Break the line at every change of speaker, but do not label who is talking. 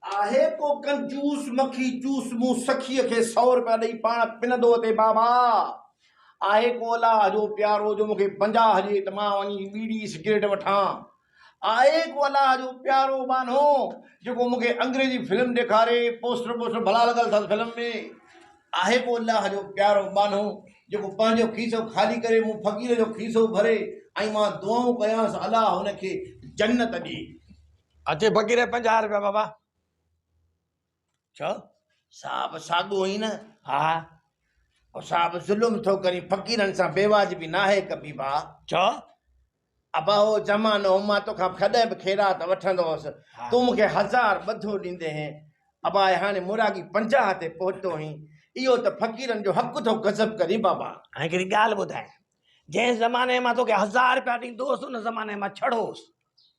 آهي ڪو ڪنجوس مکي جوس مون سخيء کي سؤ روپيا ڏئي پاڻ پنندو اٿي بابا آهي ڪو الله جو پيارو جو مونکي بنجاهه ڏي ته مان وڃي بيڙي سگريٽ وٺان آء ايڪ الله جو پيارو ٻانهو جيڪو مون کي انگريزي فلم ڏيکاري پوسٽر بوسٽر ڀلا لڳل اٿس فلم ۾. آء ايڪ الله جو پيارو ٻانهو جيڪو پنهنجو کيسو خالي ڪري مون فقير جو کيسو ڀري ۽ مان دعائون ڪيانس الله هن کي جنت ڏي. اچي
فقير پنجاهه روپيا بابا.
ڇو؟ سا به ساڳيو ئي نه؟ ها.
پوء سا
به ظلم ٿو ڪرين، فقيرن سان بيواجبي ناهي ڪبي ڀاء. ڇو؟
ابا
اهو زمانو هو، مان توکان ڪڏهن به خيرات وٺندو هوس، تون مون کي هزار ٻڌو ڏيندي هين. ابا اي هاڻي مراڳي پنجاهه تي پهتو آهين، اهو ته فقيرن جو حق ٿو غضب ڪرين بابا. هاڻي هڪڙي ڳالهه ٻڌاء،
جنهن زماني مان توکي هزار رپيا ڏيندو هوس، ان زماني مان ڇڙهوس.